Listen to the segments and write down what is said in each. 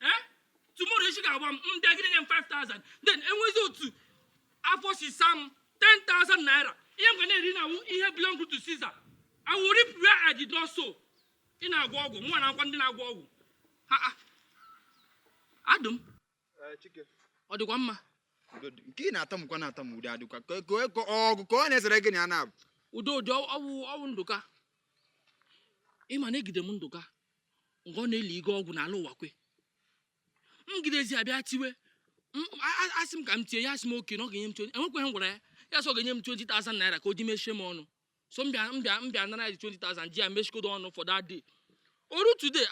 eh? tomorrow isi ga-awa m m bịa gị nye m 5000 then enwezi otu afọ si saa m 10000 naira ihe m ga na-eri wụ ihe belong to Caesar I will reap where I did not sow ị na-agwọ ọgwụ mụ na akwa ndị na-agwọ ọgwụ Adum eh, ọ dịkwa mma nke ị na-atamụkwa na-atamụ ụdị adịkwa ọgụ ka ọ na-esere gị na ya na-abụ ụdị ụdị ọ wụ ọ wụ Ndụka ị ma na egide m Ndụka nga ọ na-elige ọgwụ n'ala Ụwakwe m gidezie ya bịa tiwe asị m ka m tie ya asị m oke na ọ ga-enye m 20 enwekweghị ihe m gwara ya ya sị ọ ga-enye m 20,000 naira ka o ji mechie m ọnụ so m bịa m bịa m bịa nara ya 20,000 ji ya mechikodo ọnụ for that day o ruo today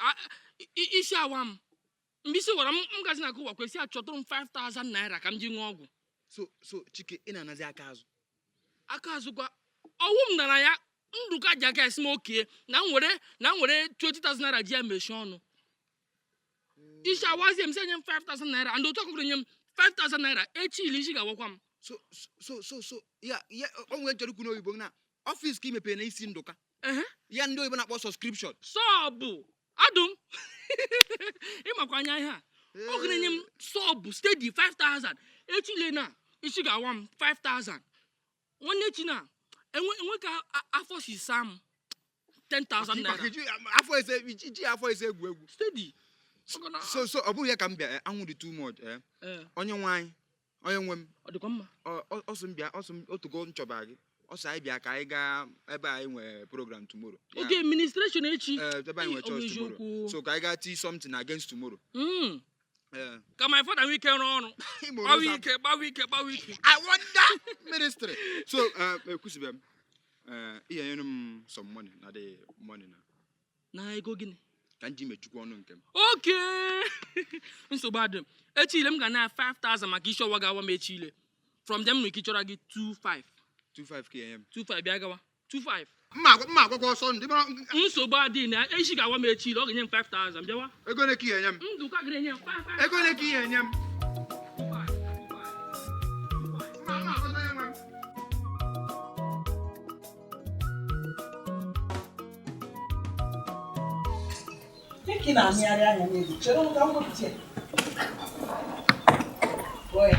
isi awa m mgbe isi wara m m gazi na nke Ụwakwe sị ya chọtụrụ m 5000 naira ka m ji ṅụọ ọgwụ so so Chike ị na-anazi aka azụ aka azụ kwa ọ wụ m nara ya Ndụka ji aka ya sị m oke na m were na m were 20,000 naira ji ya mechie ọnụ isi awazie m sị ya nye m 5000 naira and otu ọkụkọ enye m 5000 naira echi ile isi ga-awakwa m so so so so so ya ya o nwere chọrọ ikwu n'oyibo na office ka i mepere na isi Ndụka Ehe. ya ndị oyibo na-akpọ subscription sub Adum ị makwa anya ihe a ọ ga na-enye m sub steady 5000 echi ile na isi ga-awa m 5000 nwanne echi na enwe enwe ka a- afọ si saa m 10000 Maka naira iji- afọ ese iji iji afọ ese egwu egwu steady so so ọ bụghị ya ka m bịa eh, anwụ dị too much eh. onye nwe anyị onye nwe m ọ dịkwa mma ọ sị m bịa ọ sị m otugo m chọba gị ọ sị anyị bịa ka anyị gaa ebe anyị nwere program tomorrow oke administration echi eh, ebe anyị nwere church tomorrow so ka anyị gaa tii something against tomorrow hmm. eh. ka my father nwee ike rụọ ọrụ gbawa ike gbawa ike gbawa ike i wonder ministry so eh, ekwusibe m ihe nyere m some money na the money na na ego gịnị ka m ji mechukwa ọnụ nke m oke nsogbu adịghị echi ile m ga-ana 5000 maka isi ọwa ga-awa m echi ile from them nwere ike chọrọ gị 25 25 ka enye m 25 bịa gawa 25 mma agwa- mma agwakwa ọsọ ndị mara nsogbu adịghị na isi ga-awa m echi ile ọ ga-enye m 5000 bịawa ego ole ka ị enye m Ndụka ga-enye m 55 ego ole ka ị enye m mma mma agwakwa Dịka ị na-amịgharị anya n'elu, chere m ka m wepụta ya. Gụọ ya.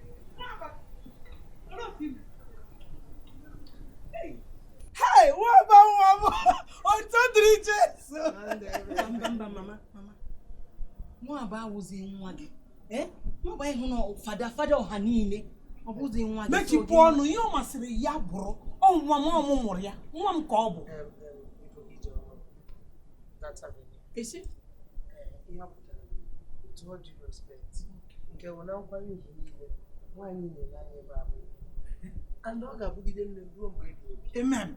nwaba awụzi nwa gị eh? nwaba ịhụ na fada fada ọha niile ọ bụzi nwa gị mechipụ ọnụ ihe ọ masịrị ya bụrụ ọ nwa m ọ mụ mụrụ ya nwa m ka ọ bụ that avenue. Is it? Uh, ihe apụtara with all due respect nke bụ na nkwanye ugwu niile nwaanyị na-ele anya ebe a bụ and ọ ga-abụgide nne ruo mgbe ebighị ebi Amen.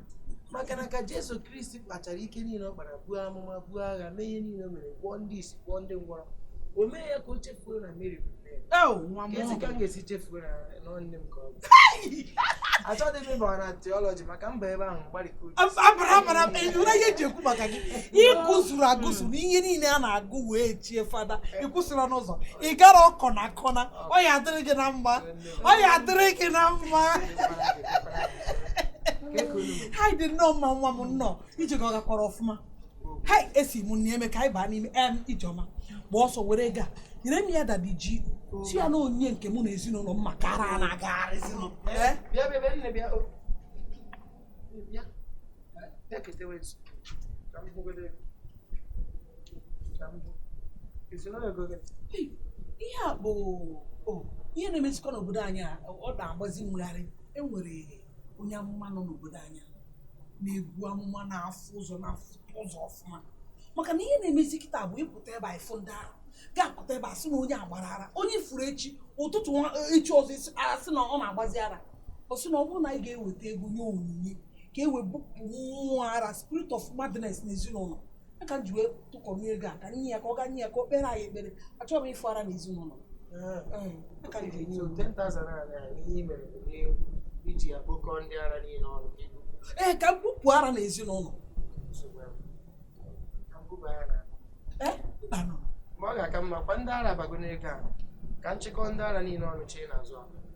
maka na ka Jesu Kristi kpachara ike niile ọ kpara buo amụma buo agha mee ihe niile o mere gwọọ ndị isi gwọọ ndị ngwọrọ o mee ya ka o chefuo na Meri bụ Oh, nwa m Ezi ka m ga-esi chefuo na ọ nne m ka ọ bụ. Achọghị m ịba na theology maka m baa ebe ahụ m gbarịka uche. abara abara ị nụla ihe eji ekwu maka gị ị gụzuru agụzuru na ihe niile a na-agụ wee chie fada ị kwụsịrị n'ụzọ ị gara kọna kọna ọ ya adịrị gị na mma ọ ya adịrị gị na mma hai ị dị nnọọ mma nwa m nnọọ ije gị ọ gakwara ọfụma hai esi m nne eme ka anyị baa n'ime em Ijeọma gba ọsọ were ego a nyere m ya dadi ji sị ya na onyinye nke mụ na ezinụlọ m maka ara a na-agagharị ezinụlọ Eh? Bịa bịa bịa nne bịa o. Bịa. Bịa ketewe nso. Ka m hụgodo ego. Ka m hụ. Ezinụlọ ego gị. Hey, ihe a bụ o, ihe na-emezikwa n'obodo anyị a ọ na-agbazi m gharịị e nwere onye amụma nọ n'obodo anyị a na-ebu amụma na-afụ ụzọ na-afụ ụzọ ọfụma maka na ihe na-emezi kịta bụ ị pụta ebe a ị fụ ndị ara ga-apụta ebe a sị na onye a gbara ara onye furu echi ụtụtụ nwa- echi ọzọ isi- a sị na ọ na-agbazi ara ọ sị na ọ bụrụ na anyị ga-eweta ego nye onyinye ka e wee bupụ mmụọ ara spirit of madness n'ezinụlọ a ka m ji wee tụkọrọ ego a ka nye ya ka ọ ga nye ya ka o kpere anyị ekpere achọghị m ịfụ ara na ezinụlọ a ka m ji enye So 10,000 naira na ihe i mere bụ ihe iji ya kpokọọ ndị ara niile ọnụ ka i bu ee ka m bupụ ara na ezinụlọ nsogbu ahụ. Ka m kwuba ya na ee mbanụ ma ọ ga-aka mma kwa ndị ara bago n'ego a ka m chịkọọ ndị ara niile ọnụ chee n'azụ akpa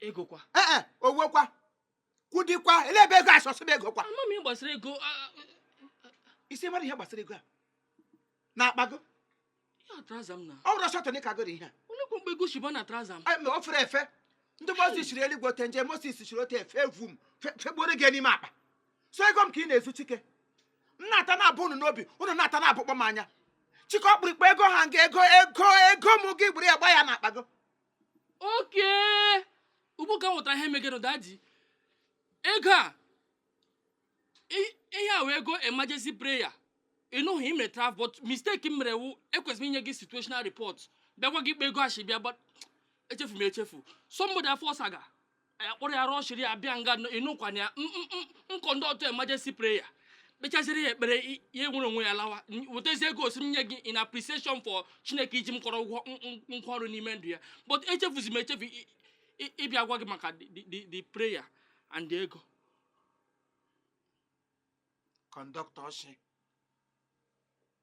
ego kwa ee eh, eh, owo kwa kudi kwa ele ebe ego asọsị bụ ego kwa ama m ihe gbasara ego i si mara ihe gbasara ego a na-akpago ọ bụrụ ọsọ tọnị ka goro ihe a olekwa mgbe ego shi baa na trouser m o fere efe ndị Moses chiri eluigwe ote nje moses chiri ote efe evu m fegboro gị n'ime akpa so ego m ka ị na-ezu chike m na-ata na-abụ unu n'obi unu na-ata na-abụkpọ m anya chike ọkpụrụkpụ ego ha nga ego ego ego m gị buru ya gba ya na akpago okay ugbu ka m nwetara ihe megenụ daddy ego a ihe a wụ ego emergency prayer ị nọghị i mere travel but mistake m mere wụ ekwesịrị m inye gị situational report bịa gwa gị kpa ego a shi bịa but echefu m echefu somebody afọ saga ya kpọrọ ya rọshiri ya bịa nga a ị nọkwana ya m conduct emergency prayer kpechaziri ya ekpere ya nwere onwe ya lawa wetazie ego sị m nye gị in appreciation for chineke iji m kọrọ ụgwọ nkwa ọrụ n'ime ndụ ya but echefuzi m echefu ịbịa agwa gị maka the prayer and the ego conductor oshi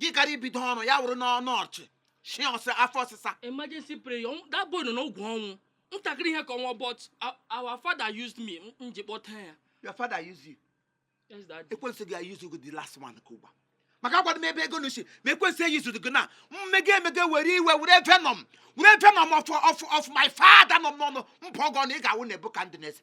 gị gara ibido ọrụ ya wụrụ nnọọ oshi shi ọ sị afọ ọsịsa emergency prayer ọnwụ- that boy nọ n'ogwu ọnwụ ntakịrị ihe ka ọ nwụọ but our- our father used me m- m ji kpọta ya your father use you yes daddy ekwensu ga-ayuzu gị the last one ka ugbua maka agwadị m ebe ego nụ shi ma ekwensu eyuzu gị na mmege emege were iwe were venom were venom of, of, of my father nọ m n'ọnụ m bụọ gị ọnụ ị ga-awụ Nebukadneza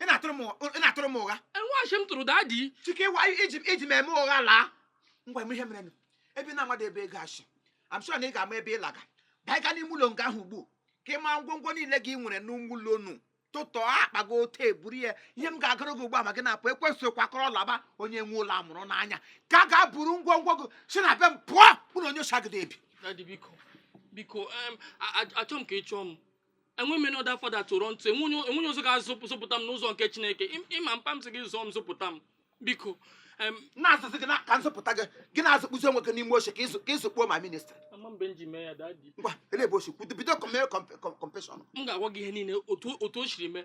ị na-atụrụ m ụgha- ị na-atụrụ m ụgha enwe ashị m tụrụ daddy chike ịwa iji iji m eme ụgha laa gwa m ihe mere nụ. ebe ị na-amadị ebe ego a shi I'm sure na ị ga-ama ebe ị laga baa gaa n'ime ụlọ nga ahụ ugbu ka ị maa ngwongwo niile gị nwere n'ime ụlọ nụ tụtọọ akpa gị otu eburu ya ihe m ga-agara gị ugbu a ma gị na-apụ ekwesịghị kwakọrọ laba onye nwe ụlọ amụrụ n'anya ka a ga-eburu ngwongwo gị si na be m pụọ ụlọ onye oshi agadị ebi daddy biko biko em, a- a- achọ m ka ị chụọ m enwe m another father to run to enwe onye ọzọ ga-azụpụta m n'ụzọ nke chineke ị ma mpa m sị gị zụọ m zụpụta m biko na-azụzị gị ka m zụpụta gị gị na-azụkpuzi onwe gị n'ime oshi ka ị zukpuo ma ministry ngwa ele ebe o si kwudo bido confession m ga-agwa gị ihe niile otu o shiri mee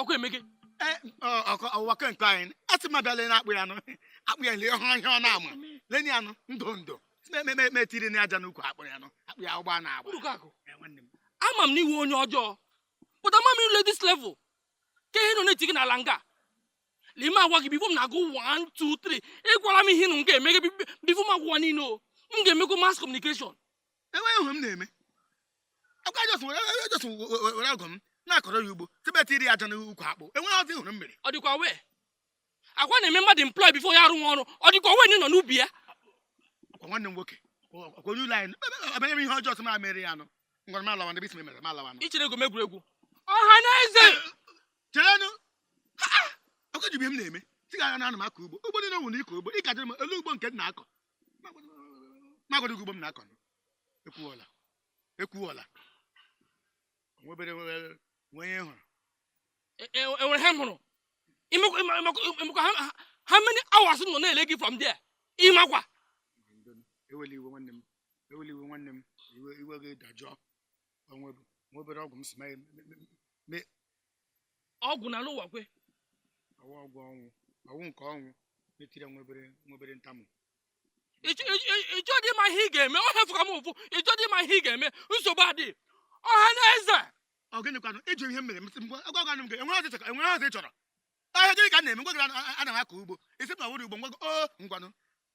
ọkụ emeke e, ọwakọ nke anyị a sị m abịala na akpụ ya nụ akpụ ya lee ọhụrụ ihe ọ na-ama leni anụ ndụ ndụ metiri na aja n'ukwu akpụ ya nụ akpụ ya ụgbọ na agba e, ama m na ị wụ onye ọjọọ but ama m i rule this level ka ihe nụ na-eti gị n'ala nga lee m agwa gị before m na-agụ 1 2 3 ị gwara m ihe nụ m ga-eme gị before m agwawa niile o m ga-emekwa mass communication enweghị ihe m na-eme ọ kwa just were ọgụ m na-akọrọ ya ugbo tibet iri aja n'ukwu akpụ enweghị ọzọ ị hụrụ m mere ọ dịkwa well a kwa na-eme mmadụ employ before ya arụwa ọrụ ọ dịkwa well nọ n'ubi ya ọkwa nwanne m nwoke ọkwa onye ụlọ anyị abanye m ihe ọjọọ sị m mere ya anụ ngwara m alawa ndị bisi mere m alawa i chere egwu m egwuregwu ọha na eze cherenụ ọkwa ị ji ihe m na-eme sị gị na ana m akọ ugbo ugbo niile nwere ịkọ ugbo ị ka jụrụ m olee ugbo nke m na-akọ m agwa ụdị ugbo m na-akọ ekwuola ekwuola nwebere nwe ihe hụrụ enwere e, e, e, ihe m hụrụ ị makwa how many hours nọ na-ele gị from there ị makwa ewele iwe nwanne m ewele iwe nwanne m iwe gị dajụọ nwebere ọgwụ m si mee ọgwụ na alụ ụwa kwe ọ wụ ọgwụ ọnwụ ọ wụ nke ọnwụ metire nwebere nwebere nta m ị chọ dị ma ihe ị ga-eme ọ ihe fụka m ụfụ ị chọ dị ma ihe ị ga-eme nsogbu adị ọha na eze ọ gịnịkwanụ ịjụ ihe m mere mesị mgbe agwa gwanụ m gị enwere ọzọ enwere ọzọ ị chọrọ ahịa gịnị ka m na-eme m gwa gị ana m akọ ugbo ị sị na ọ wụrụ ugbo ngwa o ngwanụ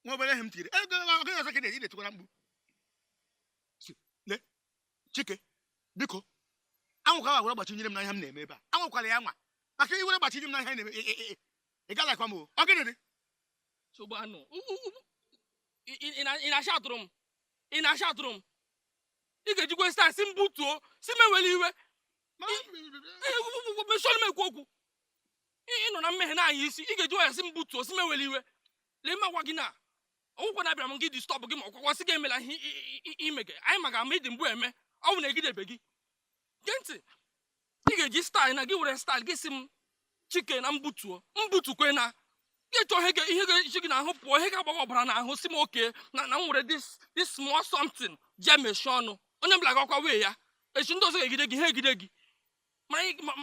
nwa obere ihe m tiri ego ọ gịnị ọzọ ka na-eji na-etikwara mkpu Chike, biko, anwakwa ya were gbachinyere m na ihe m na-eme ebe a. Anwakwala ya anwa. Maka i were gbachinyere m na ihe anyị na-eme, ị- ị- ị- ị ga-alakwa mmụọ. Ọ gịnị dị? Nsogbu anụ. U- u- u- ị- ị- ị na- ị na-achọ atụrụ m. Ị na-achọ atụrụ m. Ị ga-ejikwa style sị m butuo, sị m ewele iwe. Mesoro m ekwu okwu. Ị ị nọ na mmehie na-anya isi. Ị ga-eji wayo sị m butuo, sị m ewele iwe. Lee m agwa gị na. ọ wụkwa na abịara m gị disturb gị ma ọkwakwa sị gị emela ihe ime gị anyị maka ama ị dị mbụ eme ọ bụ na egidebe gị gee ntị ị ga-eji style na gị were style gị sị m chike na m butuo m butukwe na gị chọọ ihe ihe ga-eji gị n'ahụ pụọ ihe ga-agbawa ọbara n'ahụ sị m okay nna m were this this small something ji emechie ọnụ onye ọbụla gakwa wee ya echi ndị ọzọ ga-egide gị ha egide gị ma anyị ma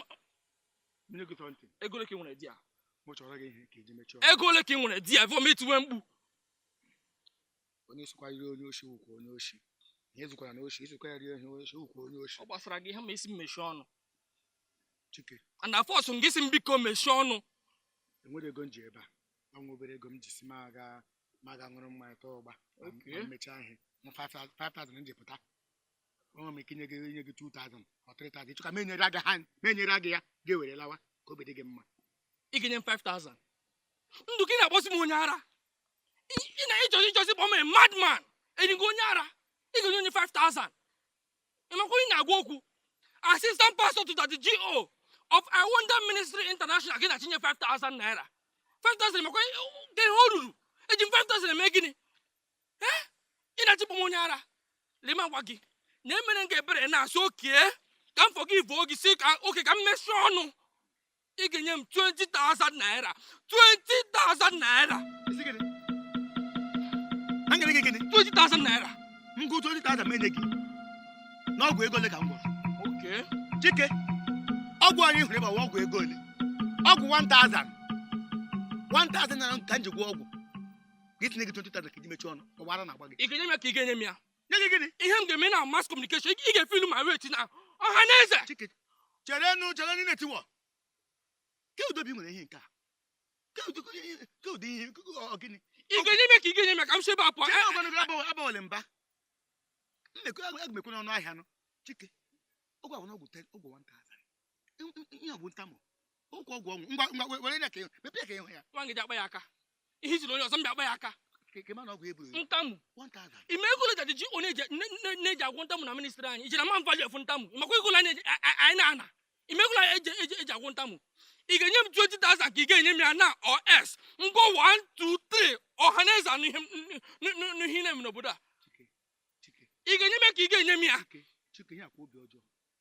nye gị twenty ego ole ka ị nwere there mụ chọrọ gị ihe ka eji mechie ego ole ka ị nwere there vọm i tiwe mkpu onye sokwa iri onye oshi wụkwa onye oshi ihe zukwara na oshi i sokwa ya rie ihe oshi wụkwa onye oshi ọ gbasara gị ihe ma ị sị m mechie ọnụ chike and a-force gị sị m biko mechie ọnụ enwere ego m ji ebe a ọ nwa obere ego m ji sị m aga m aga ṅụrụ mmanya taa ụgba mechaa ihe 5000 m ji pụta nwe m ike nye gị nye gị 2000 or 3000 ị chọọ ka m nyere aga ha m nyere gị ya ga-ewere lawa ka obi dị gị mma ị ga-enye m 5000 ndụ gị ị na-akpọsi m onye ara ị na ịchọzi ịchọzi kpọọ m a madman enyi gị onye ara ị ga-enye onye 5000 ị makwa ị na-agwa okwu assistant pastor to the GO of I Wonder Ministry International gị na-achịnye 5000 naira 5000 makwa gị ihe o ruru eji m 5000 eme gịnị ee ị na-eche bụ m onye ara lee ma gwa gị na emere m gị ebere na-asị okay ka m forgive-ụọ gị sị ka okay ka m mechie ọnụ ị ga-enye m 20,000 naira 20,000 naira Ị sị gịnị? A nyere gị gịnị? 20,000 naira M gụọ 20,000 m enye gị. N'ọgwụ ego ole ka m gwọrọ? okay Chike, ọgwụ anyị hụrụ ebe a wụ ọgwụ ego ole? Ọgwụ 1,000. 1,000 naira ka m ji gwọọ ọgwụ. gị sị nye gị 20,000 ka i ji mechie ọnụ ọ wụ ara na-agba gị ị ga-enye m ya ka ị ga-enye m ya nye gị gịnị ihe m ga-eme na mass communication ị ga-efe ilu ma weta na ọha na eze Chike, chere nụ chere nụ na-etiwọ ke udo bụ i nwere ihe nke a ke ụdị ke ihe ke ụdị ihe ke ụdị- ọ gịnị ị ga-enye m ya ka ị ga-enye m ya ka m si ebe a pụọ chere Eh, ngwanụ gị abawale- abawale mba mmekọ aga m ekwe n'ọnụ ahịa nụ Chike ọgwụ ahụ n'ọgwụ 10 ọgwụ 1000 ihe ọ bụ ntamụ okwu ọgwụ ọnwụ ngwa ngwa were ya ka m mepee ka ị hụ ya nwa gị ji akpa ya aka ihe ijiri onye ọzọ mba akpa ya aka ntamụ ị ma ego ole e ji anyị na-eji agwọ ntamụ na ministry anyị ị jiri ma value of ntamụ makwa ego anyị na-ana ị ma ego anyị ji agwọ ntamụ ị ga-enye m 20,000 ka ị ga-enye m ya na os ngwa 1 2 3 ọha na eze anụ ihe na-eme n'obodo a ị ga-enye m ya ka ị ga-enye m ya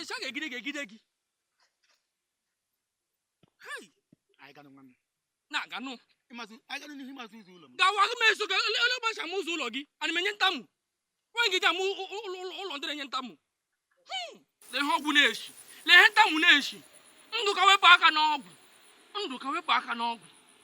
ishi ga-egide ga-egide gị na-aganụ gawa gị m eso ga ele ụbọchị ama ụzọ ụlọ gị ana m enye ntamu nwaanyị gị ji ama ụlọ ndị na-enye ntamu hmm. lee ihe ọgwụ na-eshi lee ihe ntamu na-eshi Ndụka wepụ aka n'ọgwụ Ndụka wepụ aka n'ọgwụ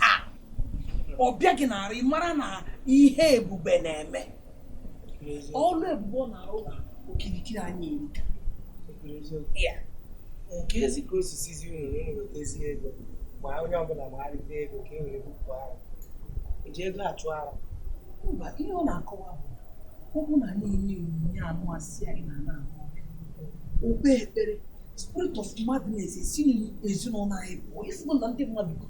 ha ọ bịa gị na ị mara na ihe Ebube na-eme ọlụ ebube ọ na-arụ na okirikiri anyị erika kezi ka o si sịzi unu na unu wetazie ego ma onye ọbụla gbagharịta ego ka e were bupụ ara e ji ego achụ ara mba ihe ọ na-akọwa bụ ọ bụrụ na anyị enye onyinye anụ asị anyị na ana ahụ o kpee ekpere spirit of madness esi n'ezinụlọ anyị pụọ ịfụgo na ndị mmadụ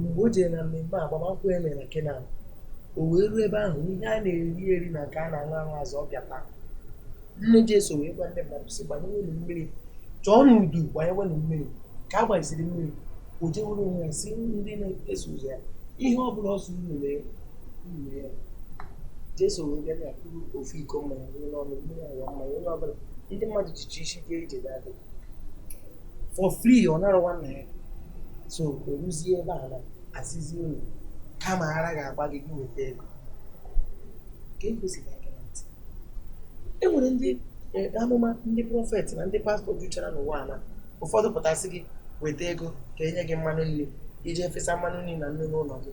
mgbe o jere na mmemme agbamakwụkwọ e mere na Kena o wee ruo ebe ahụ ihe a na-eri eri na nke a na-aṅụ aṅụ ezuro bịa taa nne Jesu wee gwa ndị mmadụ sị gbanyewenụ mmiri chọọ na udu gbanyewenụ mmiri ka a gbanyesịrị mmiri o jee were onwe ya sị ndị na-eso ụzọ ya ihe ọ bụla ọ sị unu mee unu mee ya Jesu wee bịa na kuru ofu iko mmanya ṅụlụ ọnụ mmiri aghọọ mmanya onye ọbụla ndị mmadụ jicha isi eje ije ga-adị for free ọ nara one naira so eruzie ebe a na-asịzi unu kama ara ga-agba gị gị weta ego ka egosiri aka na ntị e nwere ndị eh, amụma ndị prophet na ndị pastor juchara n'ụwa a na ụfọdụ pụta sị gị weta ego ka e nye gị mmanụ nri iji efesa mmanụ nri na nnu n'ụlọ gị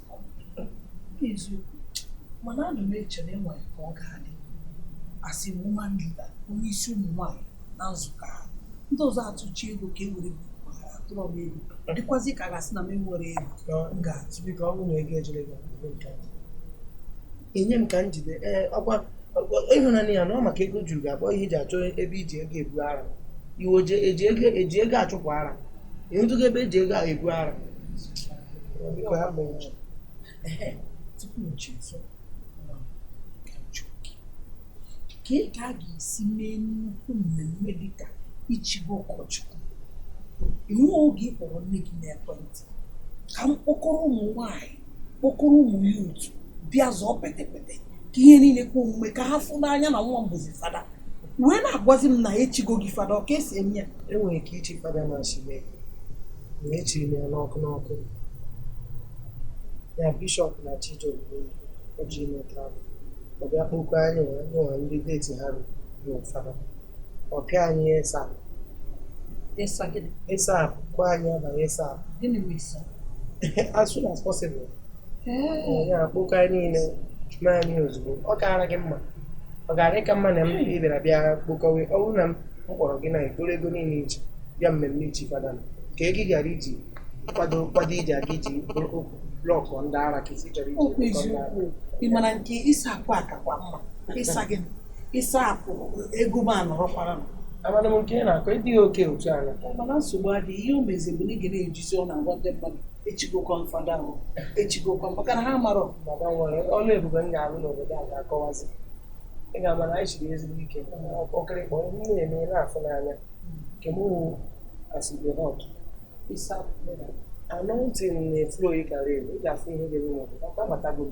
eziokwu mana ana m eche na enwere ka ọ ga-adị asị woman leader onye isi ụmụ nwaanyị na nzukọ ha ndị ọzọ atụchi ego ka e were bukwara atụrọ m ego dịkwazi ka a ga-asị na m enwere ego m ga-atụ biko ọ bụrụ na ego ejere gị ebe nke a. enye m ka m jide ee ọkwa ọkwa- ịhụnanya ya na ọ maka ego juru ga-abụ ihe eji achọ ebe iji ego ebu ara iwe oje eji ego eji ego achụpụ ara ịhụtụgo ebe eji ego ebu ara tupu m chezọọ kee ka a ga-esi mee nnukwu mmemme dịka ichi gị ụkọchukwu i nwero oge ị kpọrọ nne gị n'ekwentị ka m kpọkọrọ ụmụ nwanyị kpọkọrọ ụmụ ya otu bịa zọọ petepete ka ihe niile kwe omume ka ha fụ n'anya na nwa m bụzi fada wee na-agwazi m na echigo gị fada ọ ka esi eme ya enwere ike ichi fada na asị m na echiri m ya n'ọkụ n'ọkụ ya bishọp na chijioke o ji eme travel ọ bịa kpokọ anyị nwa ndị date ha ruru fada ọ pịa anyị ASAP ịsa gịnị ASAP kwa anyị abalị ASAP gịnị bụ ASAP as soon as possible ya akpokọ anyị niile chie anyị ozugbo ọ kaara gị mma ọ gara aka mma na m bịara bịa kpokọwe ọ bụrụ na m kpọrọ gị na i kporo ego niile iji bịa mmemme ichi fada ka ego ị gara iji kwado kwado iji aga iji blọkụ ndị ara ka isi chọrọ iji ị ma na nke ịsa akwa akakwa mma ịsa gị ịsapụ ego m anọrọkwara m amana m nke ị na-akọ ịdịghị oke otu a na mana nsogbu adịghị ihe o mezi bụ na ị ga na-ejizi ọnụ agwa ndị mmadụ echigokwa m fada ahụ echigokwa m maka na ha marọ baba nwere ọlụ ebube m ga-alụ n'obodo a ga-akọwazi ị ga-ama na anyị chiri ezigbo ike ọkịrịkpọ ihe m na-eme na-afụ n'anya nke m wụ as e dey hot ASAP anointing na-eflow ị gara elu ị ga-afụ ihe ga-eme n'obodo ọ ka batago m